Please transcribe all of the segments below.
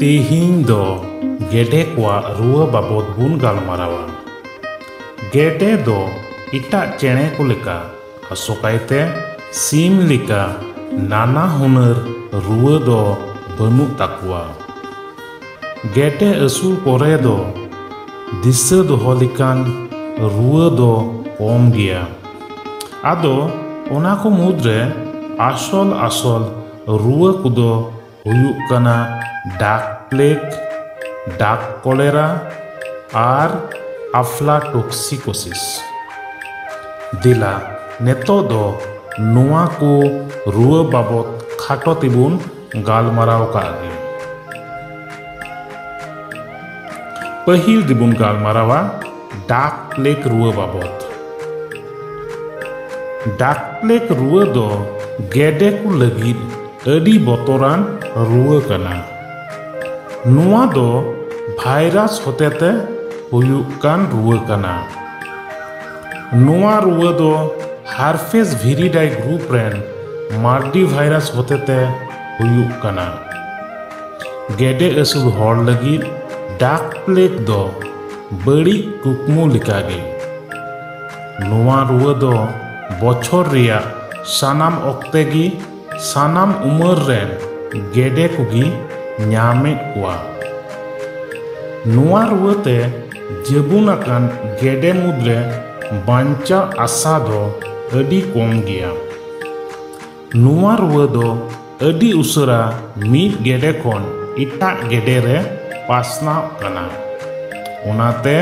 ᱛᱮᱦᱤᱧ ᱫᱚ ᱜᱮᱰᱮ ᱠᱚᱣᱟᱜ ᱨᱩᱣᱟᱹ ᱵᱟᱵᱚᱫ ᱵᱚᱱ ᱜᱟᱞᱢᱟᱨᱟᱣᱟ᱾ ᱜᱮᱰᱮ ᱫᱚ ᱮᱴᱟᱜ ᱪᱮᱬᱮ ᱠᱚ ᱞᱮᱠᱟ, ᱟᱥᱚᱠᱟᱭᱛᱮ ᱥᱤᱢ ᱞᱮᱠᱟ ᱱᱟᱱᱟ ᱦᱩᱱᱟᱹᱨ ᱨᱩᱣᱟᱹ ᱫᱚ ᱵᱟᱹᱱᱩᱜ ᱛᱟᱠᱚᱣᱟ᱾ ᱜᱮᱰᱮ ᱟᱹᱥᱩᱞ ᱠᱚᱨᱮ ᱫᱚ ᱫᱤᱥᱟᱹ ᱫᱚᱦᱚ ᱞᱮᱠᱟᱱ ᱨᱩᱣᱟᱹ ᱫᱚ ᱠᱚᱢ ᱜᱮᱭᱟ᱾ ᱟᱫᱚ ᱚᱱᱟ ᱠᱚ ᱢᱩᱫᱽ ᱨᱮ ᱟᱥᱚᱞ ᱟᱥᱚᱞ ᱨᱩᱣᱟᱹ ᱠᱚᱫᱚ ᱦᱩᱭᱩᱜ ᱠᱟᱱᱟ ᱰᱟᱠ ᱯᱞᱮᱜᱽ ᱰᱟᱠ ᱠᱚᱞᱮᱨᱟ ᱟᱨ ᱟᱯᱷᱞᱟᱴᱚᱠᱥᱤᱠᱳᱥᱤᱥ ᱫᱮᱞᱟ ᱱᱤᱛᱚᱜ ᱫᱚ ᱱᱚᱣᱟ ᱠᱚ ᱨᱩᱣᱟᱹ ᱵᱟᱵᱚᱫ ᱠᱷᱟᱴᱚ ᱛᱮᱵᱚᱱ ᱜᱟᱞᱢᱟᱨᱟᱣ ᱠᱟᱜ ᱜᱮ ᱯᱟᱹᱦᱤᱞ ᱫᱚᱵᱚᱱ ᱜᱟᱞᱢᱟᱨᱟᱣᱟ ᱰᱟᱠ ᱯᱞᱮᱠ ᱨᱩᱣᱟᱹ ᱵᱟᱵᱚᱫ ᱰᱟᱠ ᱯᱞᱮᱠ ᱨᱩᱣᱟᱹ ᱫᱚ ᱜᱮᱰᱮ ᱠᱚ ᱞᱟᱹᱜᱤᱫ ᱟᱹᱰᱤ ᱵᱚᱛᱚᱨᱟᱱ ᱨᱩᱣᱟᱹ ᱠᱟᱱᱟ ᱱᱚᱣᱟ ᱫᱚ ᱵᱷᱟᱭᱨᱟᱥ ᱦᱚᱛᱮᱛᱮ ᱦᱩᱭᱩᱜ ᱠᱟᱱ ᱨᱩᱣᱟᱹ ᱠᱟᱱᱟ ᱱᱚᱣᱟ ᱨᱩᱣᱟᱹ ᱫᱚ ᱦᱟᱨᱯᱷᱮᱥ ᱵᱷᱤᱨᱤᱰᱟᱭ ᱜᱨᱩᱯ ᱨᱮᱱ ᱢᱟᱞᱴᱤ ᱵᱷᱟᱭᱨᱟᱥ ᱦᱚᱛᱮᱛᱮ ᱦᱩᱭᱩᱜ ᱠᱟᱱᱟ ᱜᱮᱰᱮ ᱟᱹᱥᱩᱞ ᱦᱚᱲ ᱞᱟᱹᱜᱤᱫ ᱰᱟᱠ ᱯᱞᱮᱴ ᱫᱚ ᱵᱟᱹᱲᱤᱡ ᱠᱩᱠᱢᱩ ᱞᱮᱠᱟᱜᱮ ᱱᱚᱣᱟ ᱨᱩᱣᱟᱹ ᱫᱚ ᱵᱚᱪᱷᱚᱨ ᱨᱮᱭᱟᱜ ᱥᱟᱱᱟᱢ ᱚᱠᱛᱮ ᱜᱮ ᱥᱟᱱᱟᱢ ᱩᱢᱟᱹᱨ ᱨᱮᱱ ᱜᱮᱰᱮ ᱠᱚᱜᱮ ᱧᱟᱢᱮᱫ ᱠᱚᱣᱟ ᱱᱚᱣᱟ ᱨᱩᱣᱟᱹ ᱛᱮ ᱡᱟᱹᱵᱩᱱ ᱟᱠᱟᱱ ᱜᱮᱰᱮ ᱢᱩᱫᱽᱨᱮ ᱵᱟᱧᱪᱟᱜ ᱟᱥᱟ ᱫᱚ ᱟᱹᱰᱤ ᱠᱚᱢ ᱜᱮᱭᱟ ᱱᱚᱣᱟ ᱨᱩᱣᱟᱹ ᱫᱚ ᱟᱹᱰᱤ ᱩᱥᱟᱹᱨᱟ ᱢᱤᱫ ᱜᱮᱰᱮ ᱠᱷᱚᱱ ᱮᱴᱟᱜ ᱜᱮᱰᱮ ᱨᱮ ᱯᱟᱥᱱᱟᱣ ᱠᱟᱱᱟ ᱚᱱᱟᱛᱮ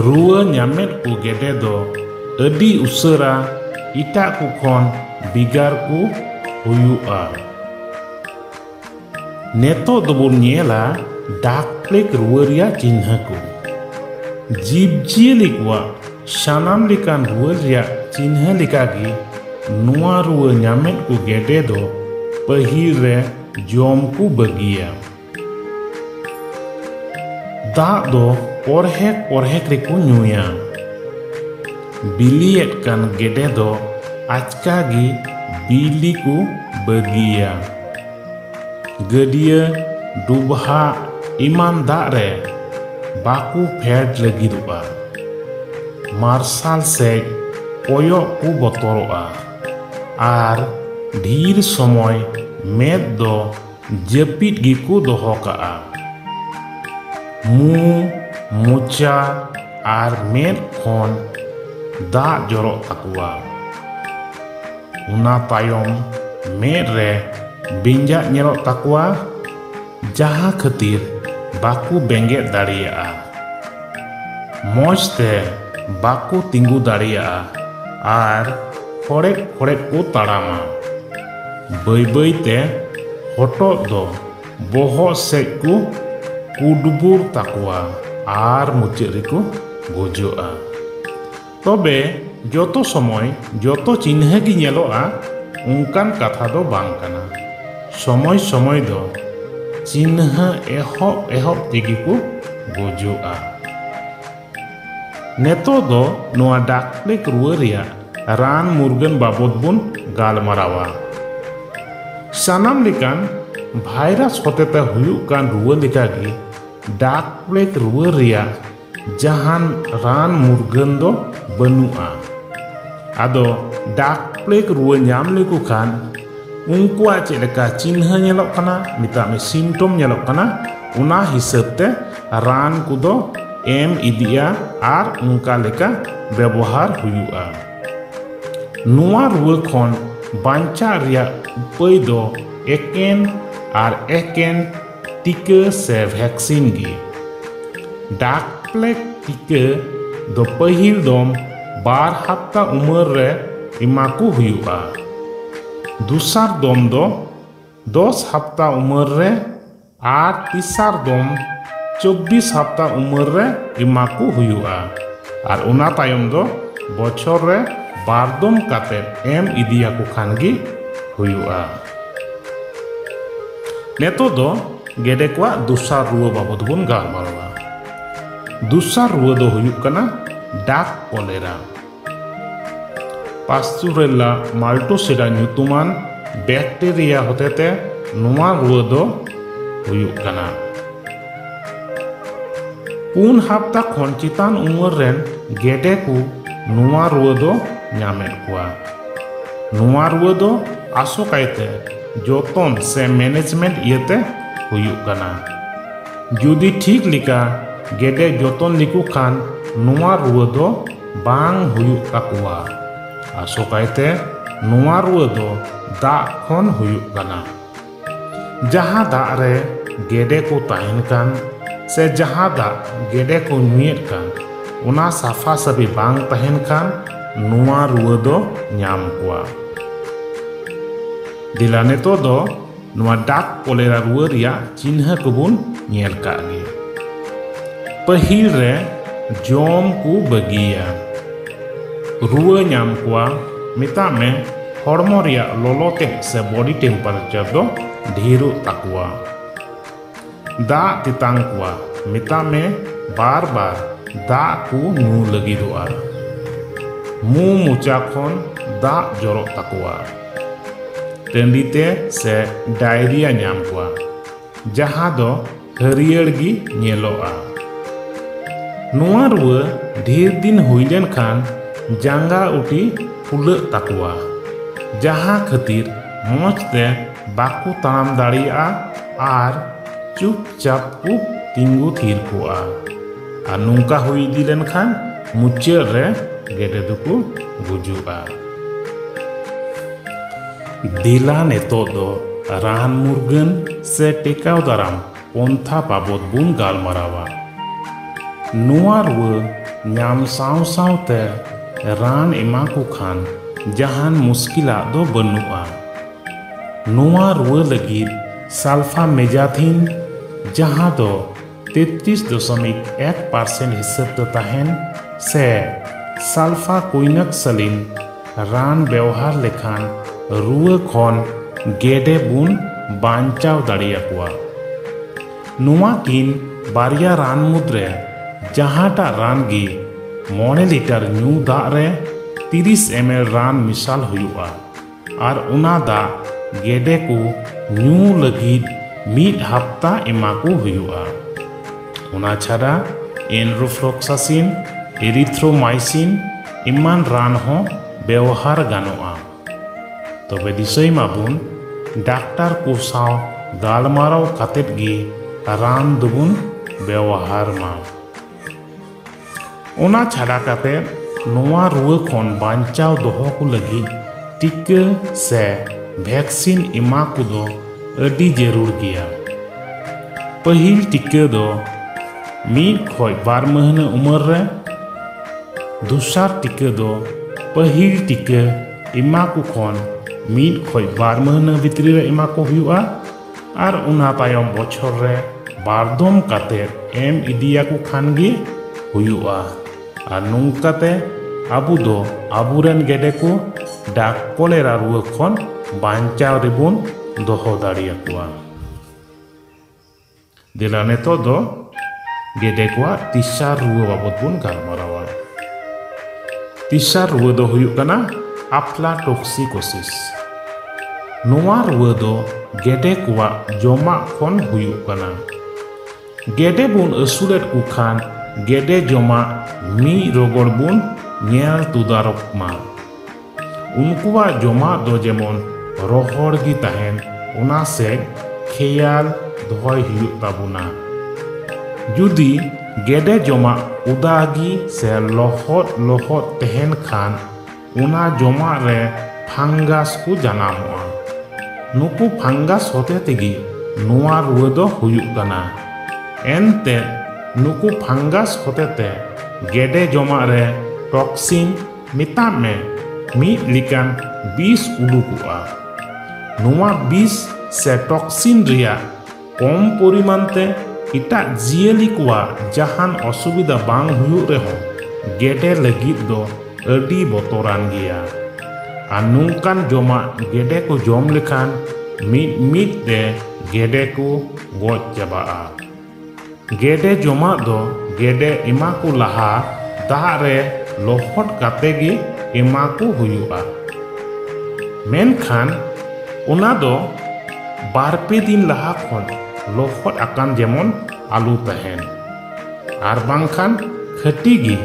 ᱨᱩᱣᱟᱹ ᱧᱟᱢᱮᱫ ᱠᱚ ᱜᱮᱰᱮ ᱫᱚ ᱟᱹᱰᱤ ᱩᱥᱟᱹᱨᱟ ᱮᱴᱟᱜ ᱠᱚ ᱠᱷᱚᱱ ᱵᱷᱮᱜᱟᱨ ᱠᱚ ᱦᱩᱭᱩᱜᱼᱟ ᱱᱤᱛᱚᱜ ᱫᱚᱵᱚᱱ ᱧᱮᱞᱟ ᱰᱟᱠ ᱯᱞᱮᱜᱽ ᱨᱩᱣᱟᱹ ᱨᱮᱭᱟᱜ ᱪᱤᱱᱦᱟᱹ ᱠᱚ ᱡᱤᱵᱽᱼᱡᱤᱭᱟᱹᱞᱤ ᱠᱚᱣᱟᱜ ᱥᱟᱱᱟᱢ ᱞᱮᱠᱟᱱ ᱨᱩᱣᱟᱹ ᱨᱮᱭᱟᱜ ᱪᱤᱱᱦᱟᱹ ᱞᱮᱠᱟᱜᱮ ᱱᱚᱣᱟ ᱨᱩᱣᱟᱹ ᱧᱟᱢᱮᱫ ᱠᱚ ᱜᱮᱰᱮ ᱫᱚ ᱯᱟᱹᱦᱤᱞ ᱨᱮ ᱡᱚᱢ ᱠᱚ ᱵᱟᱹᱜᱤᱭᱟ ᱫᱟᱜ ᱫᱚ ᱯᱚᱨᱦᱮᱠ ᱯᱚᱨᱦᱮᱠ ᱨᱮᱠᱚ ᱧᱩᱭᱟ ᱵᱤᱞᱤᱭᱮᱫ ᱠᱟᱱ ᱜᱮᱰᱮ ᱫᱚ ᱟᱪᱠᱟ ᱜᱮ ᱵᱤᱞᱤ ᱠᱚ ᱵᱟᱹᱜᱤᱭᱟ ᱜᱟᱹᱰᱭᱟᱹ ᱰᱩᱵᱦᱟᱜ ᱮᱢᱟᱱ ᱫᱟᱜ ᱨᱮ ᱵᱟᱠᱚ ᱯᱷᱮᱰ ᱞᱟᱹᱜᱤᱫᱚᱜᱼᱟ ᱢᱟᱨᱥᱟᱞ ᱥᱮᱡ ᱠᱚᱭᱚᱜ ᱠᱚ ᱵᱚᱛᱚᱨᱚᱜᱼᱟ ᱟᱨ ᱰᱷᱤᱨ ᱥᱚᱢᱚᱭ ᱢᱮᱫ ᱫᱚ ᱡᱟᱹᱯᱤᱫ ᱜᱮᱠᱚ ᱫᱚᱦᱚ ᱠᱟᱜᱼᱟ ᱢᱩ ᱢᱚᱪᱟ ᱟᱨ ᱢᱮᱫ ᱠᱷᱚᱱ ᱫᱟᱜ ᱡᱚᱨᱚᱜ ᱛᱟᱠᱚᱣᱟ ᱚᱱᱟ ᱛᱟᱭᱚᱢ ᱢᱮᱫ ᱨᱮ ᱵᱮᱸᱡᱟᱜ ᱧᱮᱞᱚᱜ ᱛᱟᱠᱚᱣᱟ ᱡᱟᱦᱟᱸ ᱠᱷᱟᱹᱛᱤᱨ ᱵᱟᱠᱚ ᱵᱮᱸᱜᱮᱫ ᱫᱟᱲᱮᱭᱟᱜᱼᱟ ᱢᱚᱡᱽ ᱛᱮ ᱵᱟᱠᱚ ᱛᱤᱸᱜᱩ ᱫᱟᱲᱮᱭᱟᱜᱼᱟ ᱟᱨ ᱠᱷᱚᱲᱮᱫ ᱠᱷᱚᱲᱮᱫ ᱠᱚ ᱛᱟᱲᱟᱢᱟ ᱵᱟᱹᱭ ᱵᱟᱹᱭ ᱛᱮ ᱦᱚᱴᱚᱜ ᱫᱚ ᱵᱚᱦᱚᱜ ᱥᱮᱫ ᱠᱚ ᱠᱩᱰᱵᱩᱨ ᱛᱟᱠᱚᱣᱟ ᱟᱨ ᱢᱩᱪᱟᱹᱫ ᱨᱮᱠᱚ ᱜᱩᱡᱩᱜᱼᱟ ᱛᱚᱵᱮ ᱡᱚᱛᱚ ᱥᱚᱢᱚᱭ ᱡᱚᱛᱚ ᱪᱤᱱᱦᱟᱹ ᱜᱮ ᱧᱮᱞᱚᱜᱼᱟ ᱚᱱᱠᱟᱱ ᱠᱟᱛᱷᱟ ᱫᱚ ᱵᱟᱝ ᱠᱟᱱᱟ ᱥᱚᱢᱚᱭ ᱥᱚᱢᱚᱭ ᱫᱚ ᱪᱤᱱᱦᱟᱹ ᱮᱦᱚᱵ ᱮᱦᱚᱵ ᱛᱮᱜᱮ ᱠᱚ ᱜᱩᱡᱩᱜᱼᱟ ᱱᱤᱛᱚᱜ ᱫᱚ ᱱᱚᱣᱟ ᱰᱟᱠ ᱯᱞᱮᱜᱽ ᱨᱩᱣᱟᱹ ᱨᱮᱭᱟᱜ ᱨᱟᱱ ᱢᱩᱨᱜᱟᱹᱱ ᱵᱟᱵᱚᱫ ᱵᱚᱱ ᱜᱟᱞᱢᱟᱨᱟᱣᱟ ᱥᱟᱱᱟᱢ ᱞᱮᱠᱟᱱ ᱵᱷᱟᱭᱨᱟᱥ ᱦᱚᱛᱮᱛᱮ ᱦᱩᱭᱩᱜ ᱠᱟᱱ ᱨᱩᱣᱟᱹ ᱞᱮᱠᱟᱜᱮ ᱰᱟᱠ ᱯᱞᱮᱜᱽ ᱨᱩᱣᱟᱹ ᱨᱮᱭᱟᱜ ᱡᱟᱦᱟᱱ ᱨᱟᱱ ᱢᱩᱨᱜᱟᱹᱱ ᱫᱚ ᱵᱟᱹᱱᱩᱜᱼᱟ ᱟᱫᱚ ᱰᱟᱠ ᱯᱞᱮᱜᱽ ᱨᱩᱣᱟᱹ ᱧᱟᱢ ᱞᱮᱠᱚ ᱠᱷᱟᱱ ᱩᱱᱠᱩᱣᱟᱜ ᱪᱮᱫ ᱞᱮᱠᱟ ᱪᱤᱱᱦᱟᱹ ᱧᱮᱞᱚᱜ ᱠᱟᱱᱟ ᱢᱮᱛᱟᱜ ᱢᱮ ᱥᱤᱢᱴᱚᱢ ᱧᱮᱞᱚᱜ ᱠᱟᱱᱟ ᱚᱱᱟ ᱦᱤᱥᱟᱹᱵ ᱛᱮ ᱨᱟᱱ ᱠᱚᱫᱚ ᱮᱢ ᱤᱫᱤᱜᱼᱟ ᱟᱨ ᱚᱱᱠᱟ ᱞᱮᱠᱟ ᱵᱮᱵᱚᱦᱟᱨ ᱦᱩᱭᱩᱜᱼᱟ ᱱᱚᱣᱟ ᱨᱩᱣᱟᱹ ᱠᱷᱚᱱ ᱵᱟᱧᱪᱟᱜ ᱨᱮᱭᱟᱜ ᱩᱯᱟᱹᱭ ᱫᱚ ᱮᱠᱮᱱ ᱟᱨ ᱮᱠᱮᱱ ᱴᱤᱠᱟᱹ ᱥᱮ ᱵᱷᱮᱠᱥᱤᱱ ᱜᱮ ᱰᱟᱠ ᱯᱞᱮᱠ ᱴᱤᱠᱟᱹ ᱫᱚ ᱯᱟᱹᱦᱤᱞ ᱫᱚᱢ ᱵᱟᱨ ᱦᱟᱯᱛᱟ ᱩᱢᱮᱨ ᱨᱮ ᱮᱢᱟ ᱠᱚ ᱦᱩᱭᱩᱜᱼᱟ ᱫᱚᱥᱟᱨ ᱫᱚᱢ ᱫᱚ ᱫᱚᱥ ᱦᱟᱯᱛᱟ ᱩᱢᱮᱨ ᱨᱮ ᱟᱨ ᱛᱮᱥᱟᱨ ᱫᱚᱢ ᱪᱚᱵᱵᱤᱥ ᱦᱟᱯᱛᱟ ᱩᱢᱮᱨ ᱨᱮ ᱮᱢᱟ ᱠᱚ ᱦᱩᱭᱩᱜᱼᱟ ᱟᱨ ᱚᱱᱟ ᱛᱟᱭᱚᱢ ᱫᱚ ᱵᱚᱪᱷᱚᱨ ᱨᱮ ᱵᱟᱨ ᱫᱚᱢ ᱠᱟᱛᱮ ᱮᱢ ᱤᱫᱤᱭᱟᱠᱚ ᱠᱷᱟᱱ ᱜᱮ ᱦᱩᱭᱩᱜᱼᱟ ᱱᱤᱛᱚᱜ ᱫᱚ ᱜᱮᱰᱮ ᱠᱚᱣᱟᱜ ᱫᱚᱥᱟᱨ ᱨᱩᱣᱟᱹ ᱵᱟᱵᱚᱫ ᱵᱚᱱ ᱜᱟᱞᱢᱟᱨᱟᱣᱟ ᱫᱚᱥᱟᱨ ᱨᱩᱣᱟᱹ ᱫᱚ ᱦᱩᱭᱩᱜ ᱠᱟᱱᱟ ᱰᱟᱠ ᱠᱚᱞᱮᱨᱟ ᱯᱟᱥᱪᱩᱨᱮᱞᱟ ᱢᱟᱞᱴᱳᱥᱮᱰᱟ ᱧᱩᱛᱩᱢᱟᱱ ᱵᱮᱠᱴᱮᱨᱤᱭᱟ ᱦᱚᱛᱮᱛᱮ ᱱᱚᱣᱟ ᱨᱩᱣᱟᱹ ᱫᱚ ᱦᱩᱭᱩᱜ ᱠᱟᱱᱟ ᱯᱩᱱ ᱦᱟᱯᱛᱟ ᱠᱷᱚᱱ ᱪᱮᱛᱟᱱ ᱩᱢᱮᱨ ᱨᱮᱱ ᱜᱮᱰᱮ ᱠᱚ ᱱᱚᱣᱟ ᱨᱩᱣᱟᱹ ᱫᱚ ᱧᱟᱢᱮᱫ ᱠᱚᱣᱟ ᱱᱚᱣᱟ ᱨᱩᱣᱟᱹ ᱫᱚ ᱟᱥᱚᱠᱟᱭᱛᱮ ᱡᱚᱛᱚᱱ ᱥᱮ ᱢᱮᱱᱮᱡᱽᱢᱮᱱᱴ ᱤᱭᱟᱹᱛᱮ ᱦᱩᱭᱩᱜ ᱠᱟᱱᱟ ᱡᱩᱫᱤ ᱴᱷᱤᱠ ᱞᱮᱠᱟ ᱜᱮᱰᱮ ᱡᱚᱛᱚᱱ ᱞᱮᱠᱚ ᱠᱷᱟᱱ ᱱᱚᱣᱟ ᱨᱩᱣᱟᱹ ᱫᱚ ᱵᱟᱝ ᱦᱩᱭᱩᱜ ᱛᱟᱠᱚᱣᱟ ᱟᱥᱚᱠᱟᱭᱛᱮ ᱱᱚᱣᱟ ᱨᱩᱣᱟᱹ ᱫᱚ ᱫᱟᱜ ᱠᱷᱚᱱ ᱦᱩᱭᱩᱜ ᱠᱟᱱᱟ ᱡᱟᱦᱟᱸ ᱫᱟᱜ ᱨᱮ ᱜᱮᱰᱮ ᱠᱚ ᱛᱟᱦᱮᱱ ᱠᱟᱱ ᱥᱮ ᱡᱟᱦᱟᱸ ᱫᱟᱜ ᱜᱮᱰᱮ ᱠᱚ ᱧᱩᱭᱮᱫ ᱠᱟᱱ ᱚᱱᱟ ᱥᱟᱯᱷᱟ ᱥᱟᱹᱯᱷᱤ ᱵᱟᱝ ᱛᱟᱦᱮᱱ ᱠᱷᱟᱱ ᱱᱚᱣᱟ ᱨᱩᱣᱟᱹ ᱫᱚ ᱧᱟᱢ ᱠᱚᱣᱟ ᱫᱮᱞᱟ ᱱᱤᱛᱚᱜ ᱫᱚ ᱱᱚᱣᱟ ᱰᱟᱠ ᱠᱚᱞᱮᱨᱟ ᱨᱩᱣᱟᱹ ᱨᱮᱭᱟᱜ ᱪᱤᱱᱦᱟᱹ ᱠᱚᱵᱚᱱ ᱧᱮᱞ ᱠᱟᱜ ᱜᱮ ᱯᱟᱹᱦᱤᱞ ᱨᱮ ᱡᱚᱢ ᱠᱚ ᱵᱟᱹᱜᱤᱭᱟ ᱨᱩᱣᱟᱹ ᱧᱟᱢ ᱠᱚᱣᱟ ᱢᱮᱛᱟᱜ ᱢᱮ ᱦᱚᱲᱢᱚ ᱨᱮᱭᱟᱜ ᱞᱚᱞᱚ ᱛᱮ ᱥᱮ ᱵᱚᱰᱤ ᱴᱮᱢᱯᱟᱨᱮᱪᱟᱨ ᱫᱚ ᱰᱷᱮᱨᱚᱜ ᱛᱟᱠᱚᱣᱟ ᱫᱟᱜ ᱛᱮᱛᱟᱝ ᱠᱚᱣᱟ ᱢᱮᱛᱟ ᱢᱮ ᱵᱟᱨ ᱵᱟᱨ ᱫᱟᱜ ᱠᱚ ᱧᱩ ᱞᱟᱹᱜᱤᱫᱚᱜᱼᱟ ᱢᱩ ᱢᱚᱪᱟ ᱠᱷᱚᱱ ᱫᱟᱜ ᱡᱚᱨᱚᱜ ᱛᱟᱠᱚᱣᱟ ᱴᱟᱺᱰᱤ ᱛᱮ ᱥᱮ ᱰᱟᱭᱨᱤᱭᱟ ᱧᱟᱢ ᱠᱚᱣᱟ ᱡᱟᱦᱟᱸ ᱫᱚ ᱦᱟᱹᱨᱭᱟᱹᱲ ᱜᱮ ᱧᱮᱞᱚᱜᱼᱟ ᱱᱚᱣᱟ ᱨᱩᱣᱟᱹ ᱰᱷᱮᱨ ᱫᱤᱱ ᱦᱩᱭ ᱞᱮᱱᱠᱷᱟᱱ ᱡᱟᱸᱜᱟ ᱩᱴᱤ ᱯᱷᱩᱞᱟᱹᱜ ᱛᱟᱠᱚᱣᱟ ᱡᱟᱦᱟᱸ ᱠᱷᱟᱹᱛᱤᱨ ᱢᱚᱡᱽ ᱛᱮ ᱵᱟᱠᱚ ᱛᱟᱲᱟᱢ ᱫᱟᱲᱮᱭᱟᱜᱼᱟ ᱟᱨ ᱪᱩᱯᱪᱟᱯ ᱠᱚ ᱛᱤᱸᱜᱩ ᱛᱷᱤᱨ ᱠᱚᱜᱼᱟ ᱟᱨ ᱱᱚᱝᱠᱟ ᱦᱩᱭ ᱤᱫᱤ ᱞᱮᱱᱠᱷᱟᱱ ᱢᱩᱪᱟᱹᱫ ᱨᱮ ᱜᱮᱰᱮ ᱫᱚᱠᱚ ᱜᱩᱡᱩᱜᱼᱟ ᱫᱤᱞᱟ ᱱᱤᱛᱚᱜ ᱫᱚ ᱨᱟᱱ ᱢᱩᱨᱜᱟᱹᱱ ᱥᱮ ᱴᱮᱠᱟᱣ ᱫᱟᱨᱟᱢ ᱯᱚᱱᱛᱷᱟ ᱵᱟᱵᱚᱫ ᱵᱚᱱ ᱜᱟᱞᱢᱟᱨᱟᱣᱟ ᱱᱚᱣᱟ ᱨᱩᱣᱟᱹ ᱧᱟᱢ ᱥᱟᱶ ᱥᱟᱶᱛᱮ ᱨᱟᱱ ᱮᱢᱟ ᱠᱚ ᱠᱷᱟᱱ ᱡᱟᱦᱟᱱ ᱢᱩᱥᱠᱤᱞᱟᱜ ᱫᱚ ᱵᱟᱹᱱᱩᱜᱼᱟ ᱱᱚᱣᱟ ᱨᱩᱣᱟᱹ ᱞᱟᱹᱜᱤᱫ ᱥᱟᱞᱯᱷᱟᱢᱮᱡᱟᱛᱷᱤᱱ ᱡᱟᱦᱟᱸ ᱫᱚ ᱛᱮᱛᱨᱤᱥ ᱫᱚᱥᱚᱢᱤᱠ ᱮᱠ ᱯᱟᱨᱥᱮᱱᱴ ᱦᱤᱥᱟᱹᱵ ᱫᱚ ᱛᱟᱦᱮᱱ ᱥᱮ ᱥᱟᱞᱯᱷᱟ ᱠᱩᱭᱱᱟᱠ ᱥᱟᱞᱤᱱ ᱨᱟᱱ ᱵᱮᱣᱦᱟᱨ ᱞᱮᱠᱷᱟᱱ ᱨᱩᱣᱟᱹ ᱠᱷᱚᱱ ᱜᱮᱰᱮ ᱵᱩᱱ ᱵᱟᱧᱪᱟᱣ ᱫᱟᱲᱮᱭᱟᱠᱚᱣᱟ ᱱᱚᱣᱟ ᱠᱤᱱ ᱵᱟᱨᱭᱟ ᱨᱟᱱ ᱢᱩᱫᱽᱨᱮ ᱡᱟᱦᱟᱸᱴᱟᱜ ᱨᱟᱱ ᱜᱮ ᱢᱚᱬᱮ ᱞᱤᱴᱟᱨ ᱧᱩ ᱫᱟᱜ ᱨᱮ ᱛᱤᱨᱤᱥ ᱮᱢ ᱮᱞ ᱨᱟᱱ ᱢᱮᱥᱟᱞ ᱦᱩᱭᱩᱜᱼᱟ ᱟᱨ ᱚᱱᱟ ᱫᱟᱜ ᱜᱮᱰᱮ ᱠᱚ ᱧᱩ ᱞᱟᱹᱜᱤᱫ ᱢᱤᱫ ᱦᱟᱯᱛᱟ ᱮᱢᱟ ᱠᱚ ᱦᱩᱭᱩᱜᱼᱟ ᱚᱱᱟ ᱪᱷᱟᱰᱟ ᱮᱱᱨᱳᱯᱷᱞᱚᱠᱥᱟᱥᱤᱱ ᱮᱨᱤᱛᱷᱨᱳᱢᱟᱭᱥᱤᱱ ᱮᱢᱟᱱ ᱨᱟᱱ ᱦᱚᱸ ᱵᱮᱣᱦᱟᱨ ᱜᱟᱱᱚᱜᱼᱟ ᱛᱚᱵᱮ ᱫᱤᱥᱟᱹᱭ ᱢᱟᱵᱚᱱ ᱰᱟᱠᱛᱟᱨ ᱠᱚ ᱥᱟᱶ ᱜᱟᱞᱢᱟᱨᱟᱣ ᱠᱟᱛᱮᱫ ᱜᱮ ᱨᱟᱱ ᱫᱚᱵᱚᱱ ᱵᱮᱣᱦᱟᱨ ᱢᱟ ᱚᱱᱟ ᱪᱷᱟᱰᱟ ᱠᱟᱛᱮ ᱱᱚᱣᱟ ᱨᱩᱣᱟᱹ ᱠᱷᱚᱱ ᱵᱟᱧᱪᱟᱣ ᱫᱚᱦᱚ ᱠᱚ ᱞᱟᱹᱜᱤᱫ ᱴᱤᱠᱟᱹ ᱥᱮ ᱵᱷᱮᱠᱥᱤᱱ ᱮᱢᱟ ᱠᱚᱫᱚ ᱟᱹᱰᱤ ᱡᱟᱹᱨᱩᱲ ᱜᱮᱭᱟ ᱯᱟᱹᱦᱤᱞ ᱴᱤᱠᱟᱹ ᱫᱚ ᱢᱤᱫ ᱠᱷᱚᱡ ᱵᱟᱨ ᱢᱟᱹᱦᱱᱟᱹ ᱩᱢᱮᱨ ᱨᱮ ᱫᱚᱥᱟᱨ ᱴᱤᱠᱟᱹ ᱫᱚ ᱯᱟᱹᱦᱤᱞ ᱴᱤᱠᱟᱹ ᱮᱢᱟ ᱠᱚ ᱠᱷᱚᱱ ᱢᱤᱫ ᱠᱷᱚᱡ ᱵᱟᱨ ᱢᱟᱹᱦᱱᱟᱹ ᱵᱷᱤᱛᱨᱤ ᱨᱮ ᱮᱢᱟ ᱠᱚ ᱦᱩᱭᱩᱜᱼᱟ ᱟᱨ ᱚᱱᱟ ᱛᱟᱭᱚᱢ ᱵᱚᱪᱷᱚᱨ ᱨᱮ ᱵᱟᱨᱫᱚᱢ ᱠᱟᱛᱮ ᱮᱢ ᱤᱫᱤᱭᱟᱠᱚ ᱠᱷᱟᱱ ᱜᱮ ᱦᱩᱭᱩᱜᱼᱟ ᱟᱨ ᱱᱚᱝᱠᱟᱛᱮ ᱟᱵᱚ ᱫᱚ ᱟᱵᱚᱨᱮᱱ ᱜᱮᱰᱮ ᱠᱚ ᱰᱟᱠ ᱠᱚᱞᱮᱨᱟ ᱨᱩᱣᱟᱹ ᱠᱷᱚᱱ ᱵᱟᱧᱪᱟᱣ ᱨᱮᱵᱚᱱ ᱫᱚᱦᱚ ᱫᱟᱲᱮᱭᱟᱠᱚᱣᱟ ᱫᱮᱞᱟ ᱱᱤᱛᱚᱜ ᱫᱚ ᱜᱮᱰᱮ ᱠᱚᱣᱟᱜ ᱛᱤᱥᱟᱨ ᱨᱩᱣᱟᱹ ᱵᱟᱵᱚᱫ ᱵᱚᱱ ᱜᱟᱞᱢᱟᱨᱟᱣᱟ ᱛᱤᱥᱟᱨ ᱨᱩᱣᱟᱹ ᱫᱚ ᱦᱩᱭᱩᱜ ᱠᱟᱱᱟ ᱟᱯᱞᱟᱴᱚᱠᱥᱤᱠᱳᱥᱤᱥ ᱱᱚᱣᱟ ᱨᱩᱣᱟᱹ ᱫᱚ ᱜᱮᱰᱮ ᱠᱚᱣᱟᱜ ᱡᱚᱢᱟᱜ ᱠᱷᱚᱱ ᱦᱩᱭᱩᱜ ᱠᱟᱱᱟ ᱜᱮᱰᱮ ᱵᱚᱱ ᱟᱹᱥᱩᱞᱮᱫ ᱠᱚ ᱠᱷᱟᱱ ᱜᱮᱰᱮ ᱡᱚᱢᱟᱜ ᱢᱤᱫ ᱨᱚᱜᱚᱲ ᱵᱚᱱ ᱧᱮᱞ ᱛᱩᱫᱟᱨᱚᱜ ᱢᱟ ᱩᱱᱠᱩᱣᱟᱜ ᱡᱚᱢᱟᱜ ᱫᱚ ᱡᱮᱢᱚᱱ ᱨᱚᱦᱚᱲ ᱜᱮ ᱛᱟᱦᱮᱱ ᱚᱱᱟ ᱥᱮᱫ ᱠᱷᱮᱭᱟᱞ ᱫᱚᱦᱚᱭ ᱦᱩᱭᱩᱜ ᱛᱟᱵᱚᱱᱟ ᱡᱩᱫᱤ ᱜᱮᱰᱮ ᱡᱚᱢᱟᱜ ᱩᱫᱟ ᱜᱮ ᱥᱮ ᱞᱚᱦᱚᱫ ᱞᱚᱦᱚᱫ ᱛᱟᱦᱮᱱ ᱠᱷᱟᱱ ᱚᱱᱟ ᱡᱚᱢᱟᱜ ᱨᱮ ᱯᱷᱟᱝᱜᱟᱥ ᱠᱚ ᱡᱟᱱᱟᱢᱚᱜᱼᱟ ᱱᱩᱠᱩ ᱯᱷᱟᱝᱜᱟᱥ ᱦᱚᱛᱮ ᱛᱮᱜᱮ ᱱᱚᱣᱟ ᱨᱩᱣᱟᱹ ᱫᱚ ᱦᱩᱭᱩᱜ ᱠᱟᱱᱟ ᱮᱱᱛᱮ ᱱᱩᱠᱩ ᱯᱷᱟᱝᱜᱟᱥ ᱦᱚᱛᱮ ᱛᱮ ᱜᱮᱰᱮ ᱡᱚᱢᱟᱜ ᱨᱮ ᱴᱚᱠᱥᱤᱱ ᱢᱮᱛᱟᱜ ᱢᱮ ᱢᱤᱫ ᱞᱮᱠᱟᱱ ᱵᱤᱥ ᱩᱰᱩᱠᱚᱜᱼᱟ ᱱᱚᱣᱟ ᱵᱤᱥ ᱥᱮ ᱴᱚᱠᱥᱤᱱ ᱨᱮᱭᱟᱜ ᱠᱚᱢ ᱯᱚᱨᱤᱢᱟᱱ ᱛᱮ ᱮᱴᱟᱜ ᱡᱤᱭᱟᱹᱞᱤ ᱠᱚᱣᱟᱜ ᱡᱟᱦᱟᱱ ᱚᱥᱩᱵᱤᱫᱷᱟ ᱵᱟᱝ ᱦᱩᱭᱩᱜ ᱨᱮᱦᱚᱸ ᱜᱮᱰᱮ ᱞᱟᱹᱜᱤᱫ ᱫᱚ ᱟᱹᱰᱤ ᱵᱚᱛᱚᱨᱟᱱ ᱜᱮᱭᱟ ᱟᱨ ᱱᱚᱝᱠᱟᱱ ᱡᱚᱢᱟᱜ ᱜᱮᱰᱮ ᱠᱚ ᱡᱚᱢ ᱞᱮᱠᱷᱟᱱ ᱢᱤᱫ ᱢᱤᱫ ᱛᱮ ᱜᱮᱰᱮ ᱠᱚ ᱜᱚᱡ ᱪᱟᱵᱟᱜᱼᱟ ᱜᱮᱰᱮ ᱡᱚᱢᱟᱜ ᱫᱚ ᱜᱮᱰᱮ ᱮᱢᱟ ᱠᱚ ᱞᱟᱦᱟ ᱫᱟᱜ ᱨᱮ ᱞᱚᱦᱚᱫ ᱠᱟᱛᱮ ᱜᱮ ᱮᱢᱟ ᱠᱚ ᱦᱩᱭᱩᱜᱼᱟ ᱢᱮᱱᱠᱷᱟᱱ ᱚᱱᱟ ᱫᱚ ᱵᱟᱨ ᱯᱮ ᱫᱤᱱ ᱞᱟᱦᱟ ᱠᱷᱚᱱ ᱞᱚᱦᱚᱫ ᱟᱠᱟᱱ ᱡᱮᱢᱚᱱ ᱟᱞᱚ ᱛᱟᱦᱮᱱ ᱟᱨ ᱵᱟᱝᱠᱷᱟᱱ ᱠᱷᱟᱹᱴᱤ ᱜᱮ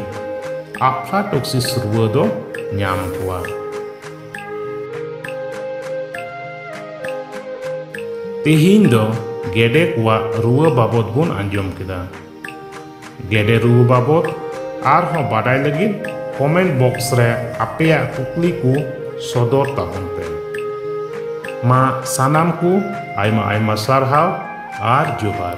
ᱟᱯᱷᱞᱟᱴᱚᱠᱥᱤᱥ ᱨᱩᱣᱟᱹ ᱫᱚ ᱧᱟᱢ ᱠᱚᱣᱟ ᱛᱮᱦᱮᱧ ᱫᱚ ᱜᱮᱰᱮ ᱠᱚᱣᱟᱜ ᱨᱩᱣᱟᱹ ᱵᱟᱵᱚᱫ ᱵᱚᱱ ᱟᱸᱡᱚᱢ ᱠᱮᱫᱟ ᱜᱮᱰᱮ ᱨᱩᱣᱟᱹ ᱵᱟᱵᱚᱫ ᱟᱨᱦᱚᱸ ᱵᱟᱰᱟᱭ ᱞᱟᱹᱜᱤᱫ ᱠᱚᱢᱮᱱᱴ ᱵᱚᱠᱥ ᱨᱮ ᱟᱯᱮᱭᱟᱜ ᱠᱩᱠᱞᱤ ᱠᱚ ᱥᱚᱫᱚᱨ ᱛᱟᱵᱚᱱ ᱯᱮ ᱢᱟ ᱥᱟᱱᱟᱢ ᱠᱚ ᱟᱭᱢᱟ ᱟᱭᱢᱟ ᱥᱟᱨᱦᱟᱣ ᱟᱨ ᱡᱚᱦᱟᱨ